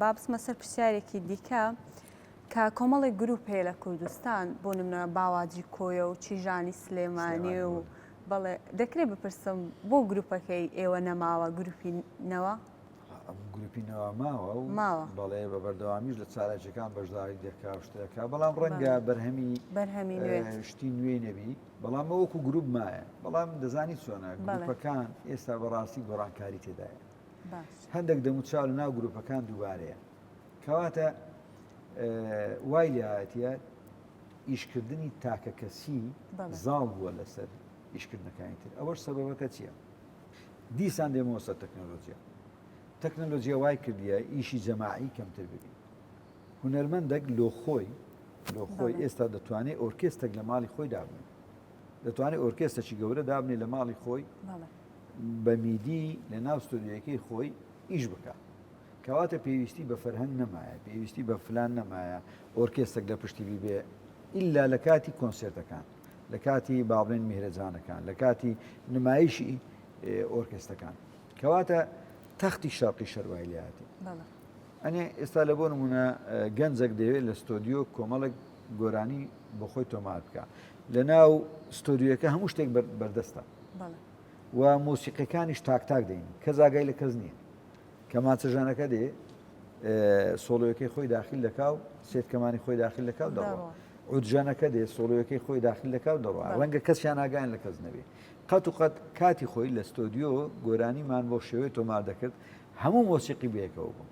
با بچمە سەر پرسیارێکی دیکە کە کۆمەڵێک گروپ هەیە لە کوردستان بۆ نمە باواجی کۆیە و چیژانی سلێمانی و بەڵێ دەکرێت بپرسم بۆ گروپەکەی ئێوە نەماوە گروپی نەوە گروپی نەوە ماوە و بەڵێ بە بەردەوامیش لە چالاکیەکان بەشداری دەکا شتەکە بەڵام ڕەنگە بەرهەمی بەرهەمی شتی نوێی نەبی بەڵام وەکو گروپ مایە بەڵام دەزانی چۆنە گروپەکان ئێستا بەڕاستی گۆڕانکاری تێدایە هەندێک دەموچاو لە ناو گروپەکان دووبارەیە کەواتە وای لێهاتە ئیشکردنی تاکە کەسی زاڵ بووە لەسەر ئیشکردنەکانی تر ئەوەش سەبەبەکە چییە؟ دیسان دێمەوە سەر تەکنەلۆژیا تەکنەلۆژیە وای کردیە ئیشی جەماعی کەمتر ببی هونەرمەندەك لۆ خۆی لۆ خۆی ئێستا دەتوانێت ئۆرکێستێک لە ماڵی خۆی دابن دەتوانێت ئۆرکێستەکی گەورە دابنێ لە ماڵی خۆی بە میدی لە ناو ستۆدیۆیەکەی خۆی ئیش بکا کەواتە پێویستی بە فەرهەنگ نەمایە پێویستی بە فلان نەمایە ئۆرکێستەک لە پشتی بیبێ ئللا لە کاتی کۆنسێرتەکان لە کاتی باڵێن میهرەجانەکان لە کاتی نمایشی ئۆرکێستەکان کەواتە تەختی شەرقی شەروای لێاتی ئەنێ ئێستا لە بۆ نمونە گەنجەک دەوێت لە ستۆدیۆ کۆمەڵک گۆرانی بۆخۆی تۆمار بکە لە ناو ستۆدیوەکە هەموو شتێک بەردەستە و مۆسیقەکانیش تاکتاک دەین کە زاگای لە کەس نییە کە ماچەژانەکە دێ سۆڵەکەی خۆی داخل دەکا و سێتکەمانی خۆی داخل دەکا و دەڕوە عودژانەکە دێ سۆڵەکەی خۆی داخل دەکا و دەڕوە ڕەنگە کەسیان ناگەیان لە کەس نەبێ قەت و قەت کاتی خۆی لە ستۆدیۆ گۆرانیمان بۆ شێوەی تۆمار دەکرد هەموو مۆسیقی بەیەکەوە بوو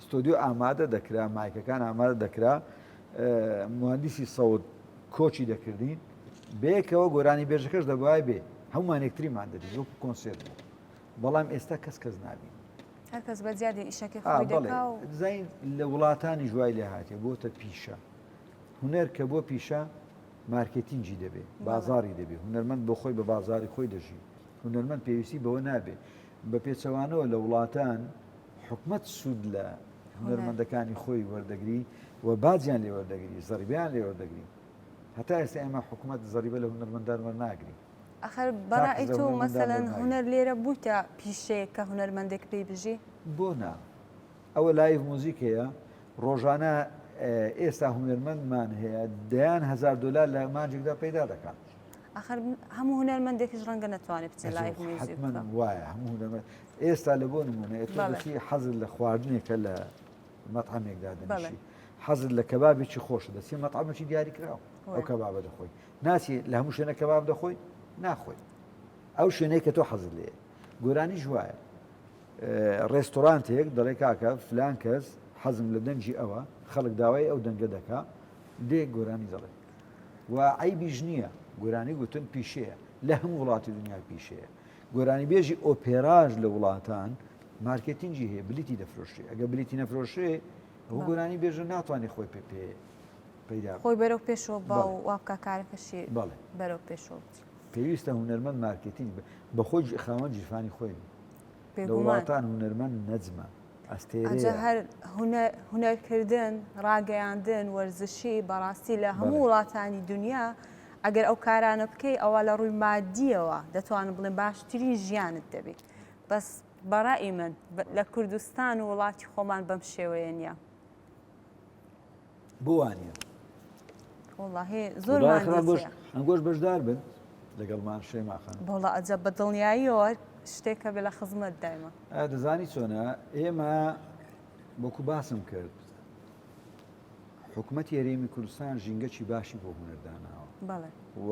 ستۆدیۆ ئامادە دەکرا، مایکەکان ئامادە دەکرا، موهەندیسی سەوت کۆچی دەکردین، بەیەکەوە گۆرانی بێژەکەش دەبای بێ هەمومان یەکتریمان دەبین وەکو کۆنسێرت بوو بەڵام ئێستا کەس کەس نابین هەرکەس بە زیادی ئیشەکە زین لە وڵاتانی ژوای لێ هااتێ بۆتە پیشە هوەر کە بۆ پیشە مارکتینجی دەبێ بازاری دەبێ هوەرمەند بۆ خۆی بە بازاری خۆی دەژی هوەرمەند پێویستی بەوە نابێ بە پێچەوانەوە لە وڵاتان حکومەت سوود لە هونەرمەندەکانی خۆی وەردەگری و باجیان لێ وەردەگری زەریبیان لێ وەردەگری هەتا ئێستا ئێمە حکوومەت زەریبە لە هونەرمەندان وەرناگری ئەخر بەڕای تۆ مەسەەن هونەر لێرە بوویتە پیشەیە کە هونەرمەندێک پێی بژی بۆ نا ئەوە لای موزیک هەیە ڕۆژانە ئێستا هونەرمەندمان هەیە دەیان هزار دلار لە مانجێکدا پەیدا دەکات ئەخر هەموو هونەرمەندێکیش ڕەنگە نتوانێت بچێت لای وایە هەموو ئێستا لە بۆ نمونە ئێ تۆ دەچی حەزت لە خواردنێکە لە مەتعەمێک دادەنیشی حەزت لە کەبابێکی خۆش دەچی مەتعەمەکی دیاری کراوە ئەو کەبابە دەخۆی ناچی لە هەموو شوێنە کەباب دەخۆی ناخۆی ئەو شوێنەی کە تۆ حەزت لێ گۆرانی ژوایە ڕێستۆرانتێک دەڵێ کاکە فلان کەس حەزم لە دەنگی ئەوە خەڵک داوای ئەو دەنگە دەکا دێ گۆرانی دەڵێ و ئەی بیژنیە گۆرانی گوتن پیشەیە لە هەموو وڵاتی دنیا پیشەیە گۆرانیبێژی ئۆپێراش لە وڵاتان مارکێتینگی هەیە بلیتی دەفرۆشێ ئەگە بلیتی نەفرۆشێ ئەو گۆرانی بێژە ناتوانانی خۆی پێ پێ پیدا خۆی بەرەو پێشەوە با و وابکە کارەکەشی بەڵێ بەرەو پێشەوە پێویستە هوەرمەند مارکێتینگ بە خۆی خاوەن جیفانی خۆی لە وڵاتان هوەرمەند نەجمە ئەستێرەیە. ئەجا هەر هونەر کردن، ڕاگەیاندن، وەرزشی، بەڕاستی لە هەموو وڵاتانی دونیا ئەگەر ئەو کارانە بکەی ئەوا لە ڕووی مادییەوە دەتوانم بڵێم باشترین ژیانت دەبی بەس بەڕائی من لە کوردستان و وڵاتی خۆمان بەم شێوەیە نیە. بوانە زۆر ئەنگۆش بەشدار بن لەگەڵمان شێماخان بەڵە ئەجە بە دڵنیاییەوە شتێکە بێ لە خزمەت دایمە دەزانی چۆنە ئێمە بۆکو باسم کرد حکوومەت یاریمی کوردستان ژینگەکی باشی بۆ هوەرداناوە و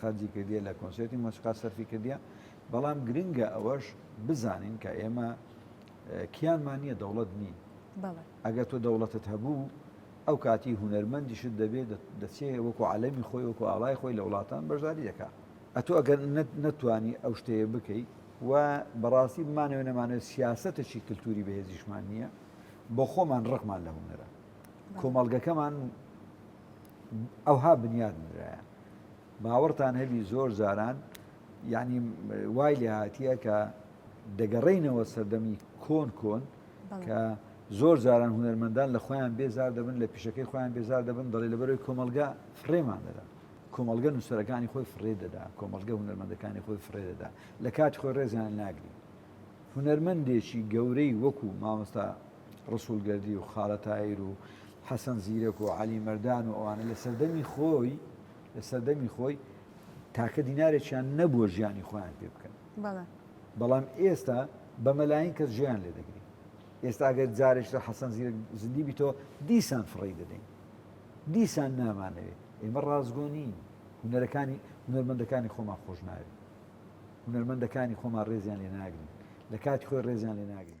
خەرجی کردیە لە کۆنسێرتی مۆسیقا سەرفی کردیە بەڵام گرنگە ئەوەش بزانین کە ئێمە کیانمان نییە دەوڵەت نین ئەگەر تۆ دەوڵەتت هەبوو ئەو کاتی هوەرمەندیشت دەبێت دەچێ وەکو عالەمی خۆی وەکو ئاڵای خۆی لە وڵاتان بەشداری دەکا ئەتۆ ئەگەر نەتوانی ئەو شتەیە بکەیت و بەڕاستی بمانەوە نەمانێت سیاستەکی کللتوری بەهێزیشمان نییە بۆ خۆمان ڕقمان لە هوەرە کۆمەڵگەکەمان ئەوها بنیات نرایە باوەڕتان هەبی زۆر جاران یعنی وای لێ هاتیە کە دەگەڕینەوە سەردەمی کۆن کۆن کە زۆر جاران هوەرمەندان لە خۆیان بێزار دەبن لە پیشەکەی خۆیان بێزار دەبن دەڵێ لە بەرەوەی کۆمەلگا فڕێمان دەدا کۆمەلگە نووسەرەکانی خۆی فڕێ دەدا کۆمەلگە هوەرمەندەکانی خۆی فڕێ دەدا لە کات خۆی ڕێزیان ناگری هوەرمەندێکی گەورەی وەکو مامۆستا ڕەسوڵ گەردی و خالە تایر و حەسەن زیرەک و عەلی مەردان و ئەوانە لە سەردەمی خۆی لە سەردەمی خۆی تاکە دینارێکیان نەبووە ژیانی خۆیان پێ بکەن بەڵام ئێستا بە مەلاین کەس ژیان لێ دەگری ئێستا ئەگەر جارێک لە حەسەن زیرەک زندی بیتەوە دیسان فڕی دەدەین دیسان نامانەوێت ئێمە ڕازگۆنین هوەرەکانی هوەرمەندەکانی خۆمان خۆش ناوێت هوەرمەندەکانی خۆمان ڕێزیان لێ ناگرین لە کاتی خۆی ڕێزیان لێ ناگرین